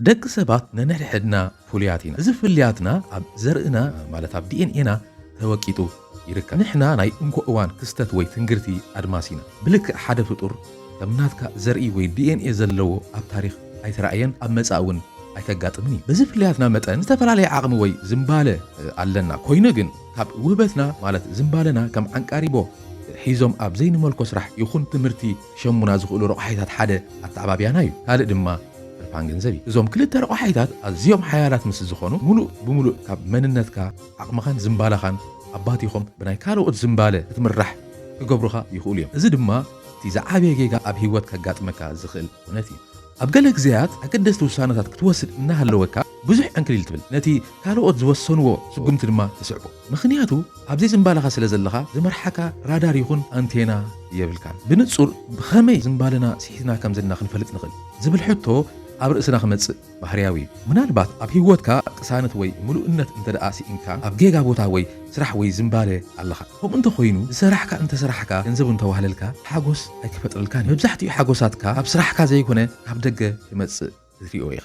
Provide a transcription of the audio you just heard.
ደቂ ሰባት ነንሕድሕድና ፍሉያት ኢና እዚ ፍልያትና ኣብ ዘርእና ማለት ኣብ ዲኤንኤና ተወቂጡ ይርከብ ንሕና ናይ እንኮ እዋን ክስተት ወይ ትንግርቲ ኣድማስ ኢና ብልክዕ ሓደ ፍጡር ከም ናትካ ዘርኢ ወይ ዲኤንኤ ዘለዎ ኣብ ታሪኽ ኣይተራእየን ኣብ መጻኢ እውን ኣይከጋጥምን እዩ። በዚ ፍልያትና መጠን ዝተፈላለየ ዓቕሚ ወይ ዝምባለ ኣለና። ኮይኑ ግን ካብ ውህበትና ማለት ዝምባለና ከም ዓንቃሪቦ ሒዞም ኣብ ዘይንመልኮ ስራሕ ይኹን ትምህርቲ ክሸሙና ዝኽእሉ ረቋሒታት ሓደ ኣተዓባብያና እዩ። ካልእ ድማ ትርፋን ገንዘብ እዩ። እዞም ክልተ ረቋሒታት ኣዝዮም ሓያላት ምስ ዝኾኑ ምሉእ ብምሉእ ካብ መንነትካ፣ ዓቕምኻን ዝምባለኻን ኣባቲኾም ብናይ ካልኦት ዝምባለ ክትምራሕ ክገብሩኻ ይኽእሉ እዮም። እዚ ድማ። እቲ ዝዓበየ ጌጋ ኣብ ህይወት ከጋጥመካ ዝኽእል ኩነት እዩ። ኣብ ገለ ግዜያት ኣገደስቲ ውሳነታት ክትወስድ እናሃለወካ ብዙሕ ዕንክሊል ትብል፣ ነቲ ካልኦት ዝወሰንዎ ስጉምቲ ድማ ትስዕቦ። ምኽንያቱ ኣብዘይ ዝንባለኻ ስለ ዘለኻ ዝመርሓካ ራዳር ይኹን ኣንቴና የብልካን። ብንጹር ብኸመይ ዝንባለና ስሒትና ከም ዘለና ክንፈልጥ ንኽእል? ዝብል ሕቶ ኣብ ርእስና ክመጽእ ባህርያዊ፣ ምናልባት ኣብ ህይወትካ ቅሳነት ወይ ምሉእነት እንተድኣ ስኢንካ፣ ኣብ ጌጋ ቦታ ወይ ስራሕ ወይ ዝምባለ ኣለኻ። ከምኡ እንተኾይኑ፣ ዝሰራሕካ እንተሰራሕካ፣ ገንዘብ እንተዋህለልካ፣ ሓጎስ ኣይክፈጥረልካን እዩ። መብዛሕትኡ ሓጎሳትካ ካብ ስራሕካ ዘይኮነ ካብ ደገ ክመጽእ ክትሪኦ ኢኻ።